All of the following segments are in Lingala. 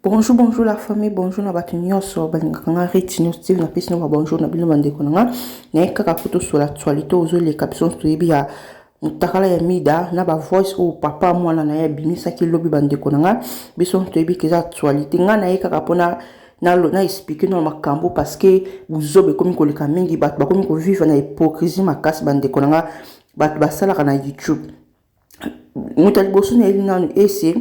bonjour bonjour la famille bonjour na bato nyonso balingaka nga reti nyonso stile na pesi nanga bonjour na bino bandeko na nga naye kaka kutu sola actualité ozoleka biso nyonso toyebi ya motakala ya mida na bavoice oyo papa mwana na ye abimisaki lobi bandeko na nga biso nyonso toyebi ke eza actualité nga naye kaka mpona na lo na expliquer no makambo parce que buzoba ekomi koleka mingi bato bakomi ko vivre na hypocrisie makasi ba ndeko na nga bato basalaka na YouTube moto ya liboso na yeli nanu ese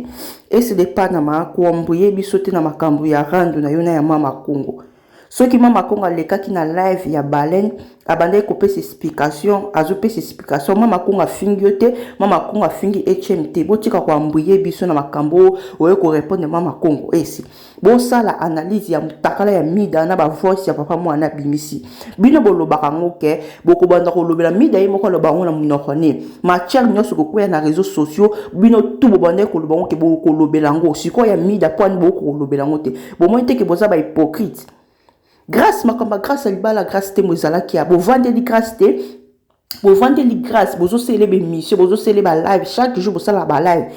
ese de panama koambuye biso te na makambo ya rando na yo na ya mama kongo soki mama kongo alekaki na live ya baleine abandaki kopesa explication azopesa explication mama kongo afingi yo te mama kongo afingi hm te botika koambuye biso na makambo oyo korepondre mama kongo ese bosala analyse ya mutakala ya mida na ba voice ya papa mwana abimisi bino bolobaka ngo ke bokobanda kolobela mida ye moko aloba yango na monoko ne matière nyonso kokwea na réseaux sociaux bino tu bobandaki koloba ngo ke bokolobela yango sikoyo ya mida po ani bokolobela yango te bomoni te ke boza ba hypocrite grâce makambo ya grâce ya libala grâce te mo ezalaki ya bovandeli grâce te bovandeli grâce bozosele bemission bozosele balive chaque jour bosala balive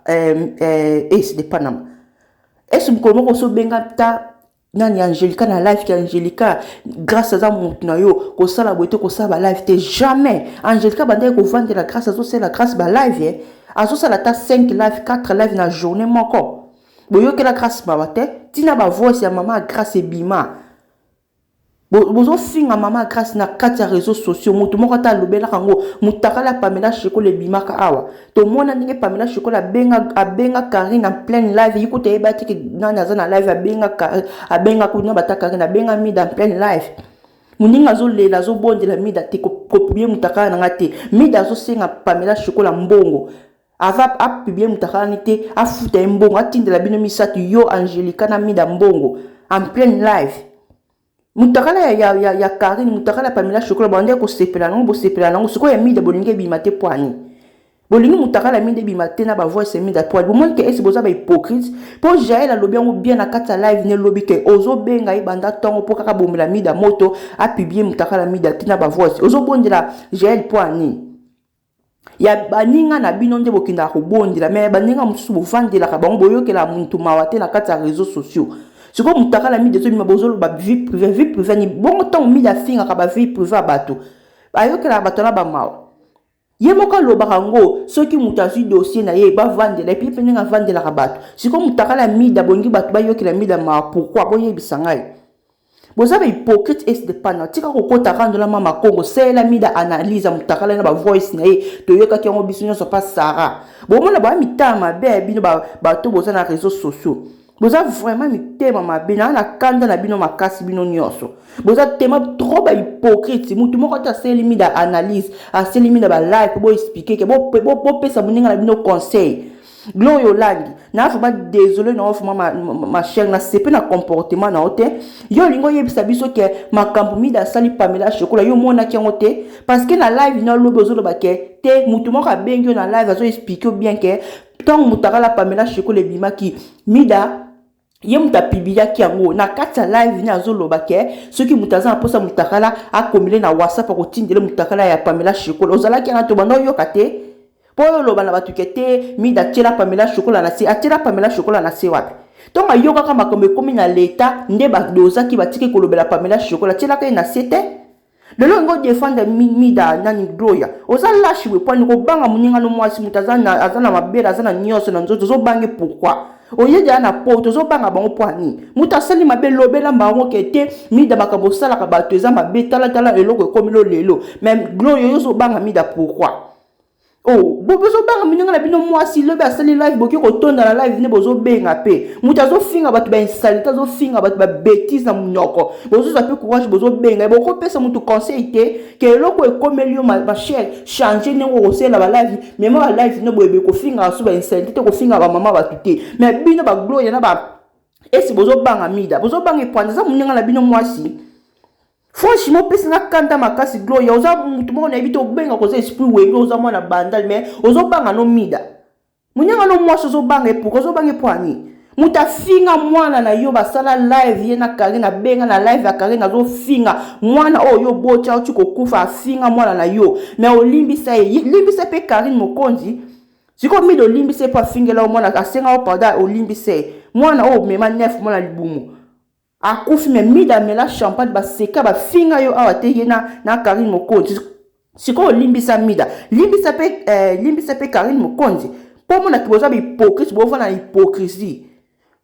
eh, eh, eh, epanama esi mokolo moko ozobenga ta nani angelica na life te angelica grâce aza motu na yo kosala boye te kosala balive te jamais angelica bandaki kovandela grâce azosala grâce balive ye azosala ata 5 live 4 live na journée moko boyokela grâce mawa te ntina bavoice ya mama ya grâce ebima Bozo finga maman grace na kati ya reseaux sociaux mutu moko ata alobelaka ngo mutakala ya pamela shekole ebimaka awa tomona ndenge pamela shekole abenga abenga carine en pleine live ye kutu ayebaki ke nani aza na live abenga carine abenga kutu na bata carine abenga mida en pleine live moninga azolela azobondela mida te kopublie mutakala na nga te mida azosenga pamela shekole mbongo Aza a publie mutakalani te afuta ye mbongo atindela bino misatu yo Angelica na Mida mbongo en pleine live. Mutakala ya, ya, ya, ya Karine mutakala Pamela Chocolat bande kosepela nango bosepela nango sikoyo ya Mida bolingi ebima te poani bolingi mutakala ya Mida ebima te na ba voice ya Mida poani bomoni ke esi boza ba hypocrite po Jael alobi yango bien na kati ya live ne lobi ke ozobenga ye banda tongo po kaka bomela Mida moto a publier mutakala Mida te na ba voice ozobondela Jael poani ya baninga na bino nde bokendaka kobondela me ya baninga mosusu bovandelaka bango boyokela muntu mawa te na kati ya réseau sociaux sikoyo mutakala midi ezobima bozoloba vie privé vie privé ni bongo ntango midi afingaka ba vie privé ya bato ayokelaka bato na bamawa ye moko alobaka yango soki moto azwi dossier na ye bavandela epi mpe ndenge avandelaka bato sikoyo mutakala mida bongi bato bayokela mida mawa pourkui boyebisa ngai boza ba hypocrite es de pana tika kokota kandola mama kongo seyela mida analyse ya mutakala na ba voice na ye toyokaki yango biso nyonso pa sara bomona baya mitama mabe ya bino bato boza na réseau sociaux boza vraiment mitema mabe naa na kanda na bino makasi bino nyonso boza tema trop ba hypocrite mutu moko te aseli mida analyse aseli mida ba live boexplike ke bopesa moninga na bino conseil Gloria Olangi, na vraiment désolé na vraiment ma, ma, ma chère na sepe na comportement na ote. Yo lingo yebisa biso ke makambo mida sali Pamela Chocolat yo mona ki yango te parce que na live na lobo zo loba ke te mutu moko abengi yo na live azo expliquer bien ke tant mutakala Pamela Chocolat ebimaki mida ye moto apibiliaki yango na kati ya live ne azoloba ke soki moto aza na mposa motakala akomile na whatsapp akotindele motakala ya pamela shekola ozalaki yana tobanda oyoka te mpo oyo oloba na bato ke te mida atyela pamela shekola na se atyela pamela shekola na se wapi ntongo ayokaka makambo ekomi na leta nde badozaki batiki kolobela pamela shekola atyelaka ye na se te lelo olingi odefendre mida nani gloria oza lashi boye pwani kobanga moninga no mwasi moto aza na mabele aza na nyonso na nzoto ozobange pourkui oye deya na poto ozobanga bango mpo ya nini moto asali mabe lobela bango ke te mida makambo osalaka bato eza mabe talatala eloko ekomi lo lelo me gloria yo ozobanga mida pourkui Oh, bozobanga minonga na bino mwasi lobi asali live boki kotonda na live nde bozobenga mpe moto azofinga bato bainsalite azofinga bato babetise na monoko bozozwa mpe courage bozobenga bokopesa moto conseil te ke eloko ekomeli yo machere change ndenge okosalela balive mema balive nde boyebe kofingaka so bainsalite te kofingaka bamama bato te me bino bagloria na ba esi bozobanga mida bozobanga epoanda eza moninga na bino mwasi Franchement opesi nga kanda makasi Gloria oza mutu moko nayebi te obenga koza esprit wenge oza mwana bandal mais ozobanga no mida munyanga no mwasi ozobanga ye pourquoi ozobanga ye mpo ya nini moto afinga mwana na yo basala live ye na karine abenga na live ya karine azofinga mwana oyo yo oboti auti kokufa afinga mwana na yo me olimbisa ye limbisa mpe karine mokonzi sikoyo mide olimbisa ye mpo afingela yo mwana asenga yo pardon olimbisa ye mwana oyo omema nef mwana libumu Akufi mais mida amela champagne ba seka ba finga yo awa te ye na na Carine Mokonzi sikoyo limbisa mida limbisa pe eh, limbisa pe Carine Mokonzi po omona ke boza ba hypocrite bo vana na hypocrisie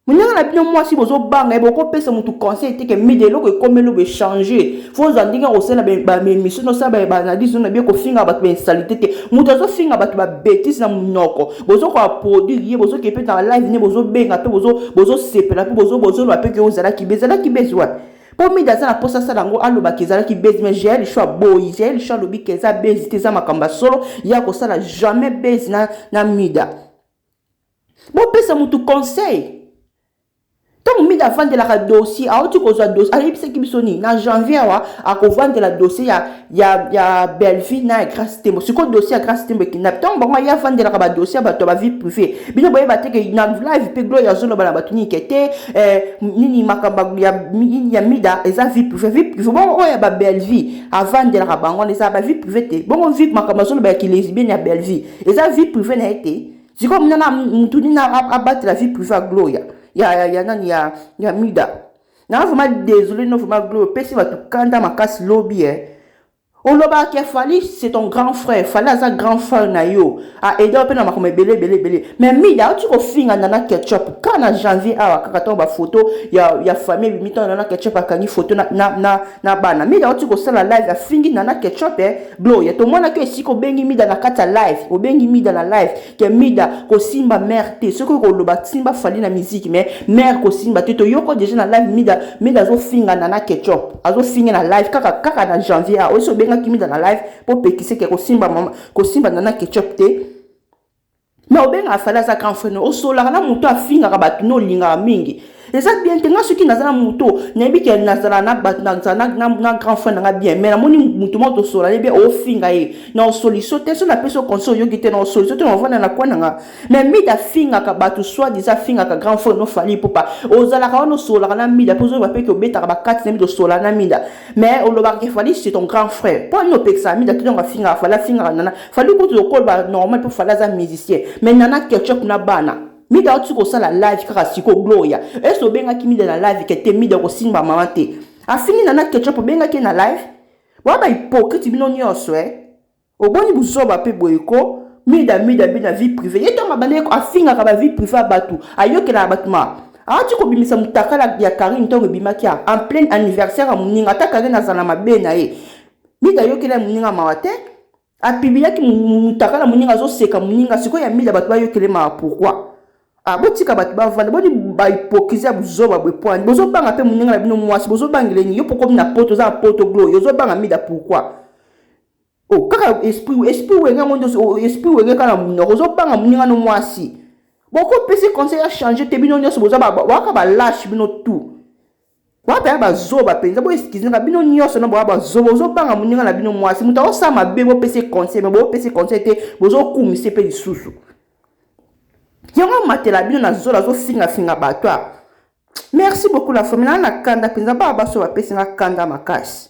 Munanga na bino mwasi bozo banga ye boko pesa mutu conseil te ke mida eloko ekomelo be changer faut za ndenge ko sala ba emission no sala ba analyse na bie ko finga batu ba insalite te mutu azo finga batu ba betise na munoko bozokoka produire ye bozokee mpe na live nde bozobenga mpe bozosepela mpe bozoloba mpe ke ozalaki be ezalaki bezi wapi mpo mida aza na mposa asala yango alobaka ezalaki bezi me jael sho aboyi jael sho alobi ke eza bezi te eza makambo ya solo ye akosala jamais bezi na, na mida bopesa motu conseil ntango mida avandelaka dossier auti kozwa dossier ayebisaki biso nini na janvier awa akovandela dossier ya, ya, ya bellevie na ya grace tembo sikoyo dossier ya grace tembo ekenda ntango bango aye avandelaka badossier ya bato ya bavie privé bino boyeba te ke na live mpe gloria azoloba na bato nini ke te eh, nini makambo ya, ya mida eza vie privé vie privé bongo oyo ya babellevie avandelaka bango wana eza bavie privé te bongo vie makambo azoloba ya kilesbienne ya bellevie eza vie privé na ye te sikoyo muna na mutu nini abatela vie privé ya gloria ya, ya, ya nani ya, ya mida na vraiment désolé no vraiment gloria opesi bato kanda makasi lobi eh. olobaka ke fali c'est ton grand frère fali aza grand frère na yo aide yo mpe na makambo ebele ebele ebele mais mida auti kofinga nana ketchup kaka na janvier awa kaka ntango bafoto ya, ya famille ebimi ntango nana ketchup akangi foto na, na, na, na bana mida oti kosala live afingi nana ketchup eh, gloria tomonaki esika obengi mida na kati ya live obengi mida na live ke mida kosimba mare te soki oyo koloba simba fali na miziki me mare kosimba te toyoko deja na live mida mida azofinga nana ketchup azofinga na live kaka kaka na janvier a osi obengaki mida na live mpo pekise ke kosimba mama kosimba nana ketchup te Mais obengaka fali aza grand frère no osolaka na moto afingaka bato no olingaka mingi eza bien te nga soki naza na moto nayebi ke nazala na bato nazala na grand frère nanga bien mais namoni moto moko tosola ye bien ofinga ye na osoliso te so napesi oconse oyoki te na osoliso te na ovanda na koi nanga mais mide afingaka bato soit disa afingaka grand frère no fali ipupa ozalaka wana osolaka na mida mpe ozoyeba mpe ke obetaka bakati na mida osola na mida mais olobaka ke fali c'est ton grand frère mpo ani opekisaka mida te ntango afingaka fali afingaka nana fali kutu lokolba normal mpo fali aza musicien mais nana ketchup na bana mida oti kosala live kaka siko gloria ese obengaki mida na live ke te mida kosimba mama te afingi nana ketchup obengaki ye na live boa bahypocrite bino nyonso e eh? Oboni buzoba pe boye ko mida mida bina vie privee ye tango abandaki ko afingaka ba vie privee ya batu ayokelaka batu ma awuti ko bimisa mutakala ya carine tango ebimaki a en pleine anniversaire ya muninga ata carine azala na mabe naye mida ayokela ye muninga mawa te a pibilaki mutakala muninga azo seka muninga sikoyo ya mida batu bayokela ye mawa pourquoi a botika batu bavanda boni ba hypocrisie ya buzoba boye po ani bozo banga pe muninga na bino muasi bozo bangela ye nini yo po okomi na poto oza na poto glow yo ozo banga mida pourquoi Oh kaka esprit esprit wenge yango ndosi oh, esprit wenge kaka na munoko ozo banga muninga no mwasi boko pesi conseil ya changer te bino nyoso boza baka ba lâche bino tout boa paya bazoba mpenza boeskizinaka bino nyonso na boa bazoba ozobanga moninga na bino mwasi moto aosala mabe bopesi conseil me bopesi conseil te bozokumise mpe lisusu yango amatela bino na zola azofingafinga bato a merci beaucoup la famille naa na kanda mpenza baa baso bapesi nga kanda makasi